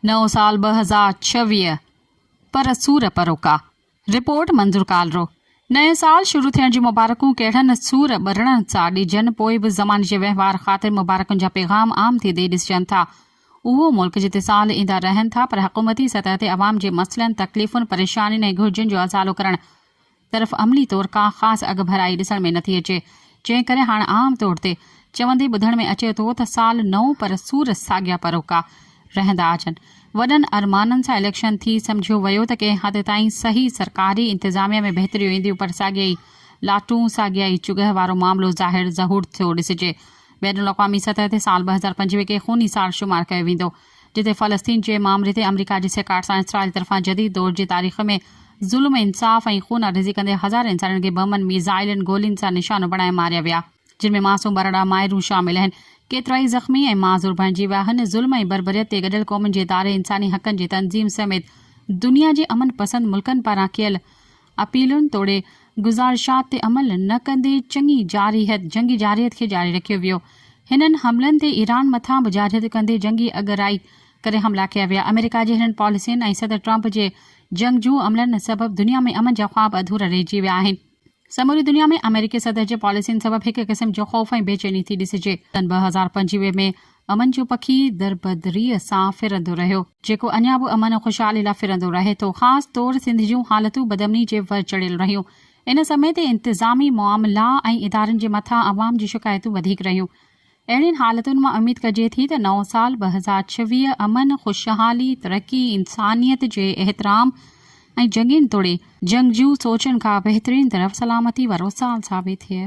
نئون سال ٻه هزار ڇويهه پر سور پروڪا رپورٽ منظور ڪالرو نئين سال شروع ٿيڻ جون مبارڪون ڪهڙن سور ٻرڙن سان ڏجن پوء به زماني جي وهنوار خاطر مبارڪن جا پيغام عام ٿي ڏئي ڏسجن ٿا اهو ملڪ جتي سال ايندا رهن ٿا پر حڪومتي سطح تي عوام جي مسئلن تڪليفن پريشانين ۽ گهرجن جو ازالو ڪرڻ طرف عملي طور ڪا خاص اڳڀرائي ڏسڻ ۾ نٿي اچي، جنهن ڪري هاڻ عام طور تي چوندي ٻڌڻ ۾ اچي ٿو ته سال نئون پر سور ساڳيا پروڪا رهندا اچن. وڏن ارمانن سان اليڪشن ٿي سمجهيو ويو ته ڪنهن حد تائين صحيح سرڪاري انتظاميه ۾ بهتريون اينديون پر ساڳيا ئي لاٽون ساڳيا ئي چگهه وارو معاملو ظاهر ظهور ٿيو ڏسجي. بين الاقوامي سطح تي سال ٻه هزار پنجويهه کي خوني سال شمار ڪيو ويندو. جتي فلسطين جي معاملي تي آمريڪا جي سيکاڙ سان اسرائيل طرفان جديد دور جي تاريخ ۾ ظلم، انصاف ۽ خون آريزي ڪندي هزارين انسانن کي بمن، ميزائلن، گولين سان نشانو بڻائي ماريا ويا، جن ۾ معصوم ٻارڙا، مائرون شامل آهن، ڪيترائي زخمي ۽ معذور بڻجي ويا، هن ظلم ۽ بربريت تي گڏيل قومن جي اداري، انساني حقن جي تنظيم سميت دنيا جي امن پسند ملڪن پاران ڪيل اپيلن توڙي گذارشات تي عمل نه ڪندي چڱي جارحيت، جنگي جارحيت، کي جاري رکيو ويو. هنن حملن تي ايران مٿان به جارحيت ڪندي جنگي اڳرائي ڪري حملا ڪيا ويا. آمريڪا جي هنن پاليسين ۽ صدر ٽرمپ جي جنگجو عملن سبب دنيا ۾ امن جا خواب اڌورا رهجي ويا آهن. سموري دنيا ۾ آمريڪي صدر جي پاليسين سبب هڪ قسم جو خوف ۽ بيچيني ٿي ڏسجي. سن ٻه هزار پنجويهه ۾ امن جو پکي دربدريء سان ڦرندو رهيو، جيڪو اڃا به امن ۽ خوشحالي لاء ڦرندو رهي ٿو. خاص طور سنڌ جون حالتون بدامني جي ور چڙهيل رهيون. ان سمي تي انتظامي معاملا ۽ ادارن جي مٿان عوام جون شڪايتون وڌيڪ رهيون. اهڙين حالتن مان اميد ڪجي ٿي ته نئون سال ٻه هزار ڇويهه امن، خوشحالي، ترقي، انسانيت جي احترام ۽ جنگين توڙي جنگجو سوچن کان بهترين طرف سلامتي وارو سال ثابت ٿئي.